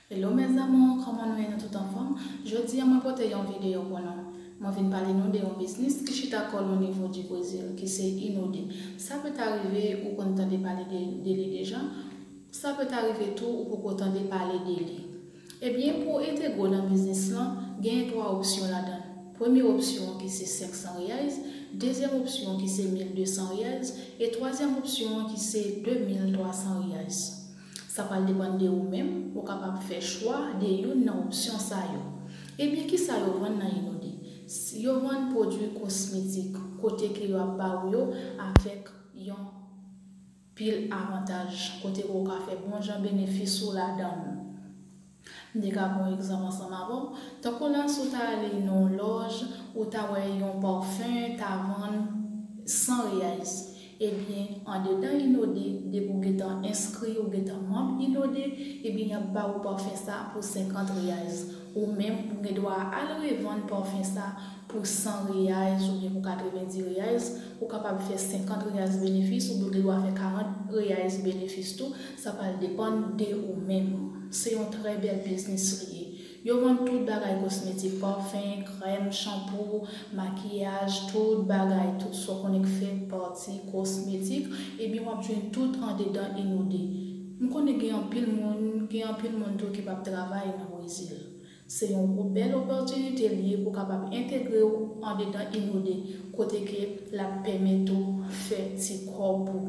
Hello mes amours kòman nou ye nou tout anfòm jodi an mwen pote yon video pou nou mwen vin pale nou de yon biznis ki chita kòl o nivo di brezil ki se inode sa peut arive ou konn tande pale de li deja sa peut arive tou ou poko tande pale de li. Ebyen pou w entegre nan biznis lan, genyen 3 opsyon ladan l. Premye opsyon an ki se 500 reais, dezyèm opsyon an ki se 1200 reais e twazyèm opsyon an ki se 2300 reais. Sa pral depann de ou menm, ou kapab fè chwa de youn nan opsyon sa yo. Ebyen kisa yo vann nan Inode? Yo vann pwodwi kosmetik kote ke yo ap ba ou yo avèk yon. pil avantaj kote ke w ka fè bon jan benefis ou ladan l. M te ka pran yon egzanp ansanm avè w, tankou la si w ta ale nan yon lòj, ou ta wè yon parfum ta vann 100 reais, ebyen andedan Inode depi w gentan enskri, ou gentan manb Inode, ebyen y ap ba ou parfum sa pou 50 reais. Ou menm ou gen dwa al revann parfum sa Pou 100 reais oubyen pou 90 reais, ou kapab fè 50 reais benefis oubyen ou gen dwa fè 40 reais benefis tou, sa pral depann de ou menm. Se yon trè bèl biznis li ye. Yo vann tout bagay kosmetik, parfum, krèm, shampoo, makiyaj, tout bagay, tout sa w konnen k fèt pati kosmetik, ebyen wap jwenn tout andedan Inode. M konnen gen anpil moun, gen anpil moun tou ki pap travay nan Brezil. Se yon gwo bèl opòtinite li ye pou kapab entegre w andedan Inode kote ke l ap pèmèt ou fè ti kòb ou.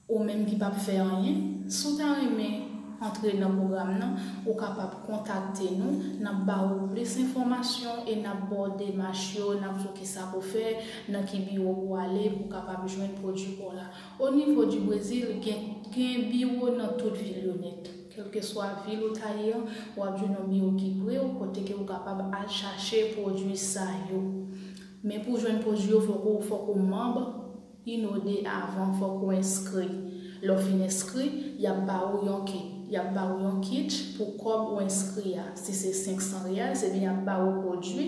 Ou menm ki p ap fè anyen, si w ta renmen antre nan pwogram nan, ou kapab kontakte nou, n ap ba ou plis enfòmasyon e n ap ba w demach yo, n ap di w kisa pou w fè, nan ki biwo pou w ale pou w kapab jwenn pwodui pa w la. Onivo di Brezil, gen gen biwo nan tout vil yo nèt. Kèlkeswa vil ou ta ye an, w ap jwenn yon biwo ki pre w kote ke ou kapab al chache pwodui sa yo. Men pou w jwenn pwodui yo fòk ou fòk ou manb yn OD avan, fòk ou enskri. Lè w fin enskri, y ap ba ou yon kit. Y ap ba ou yon kit pou kòb ou enskri a. Si se 500 riyals, ebyen y ap ba ou pwodui.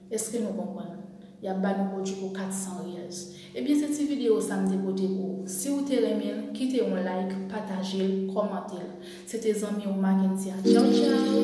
Eske nou konprann? Yap ba nou pwodwi pou 400 riyals. Ebyen se ti video sa m te pote pou ou. Si ou te renmen l, kite yon like, pataje l, kòmante l. Se te zanmi ou Mackendy a. Tchaw tchaw!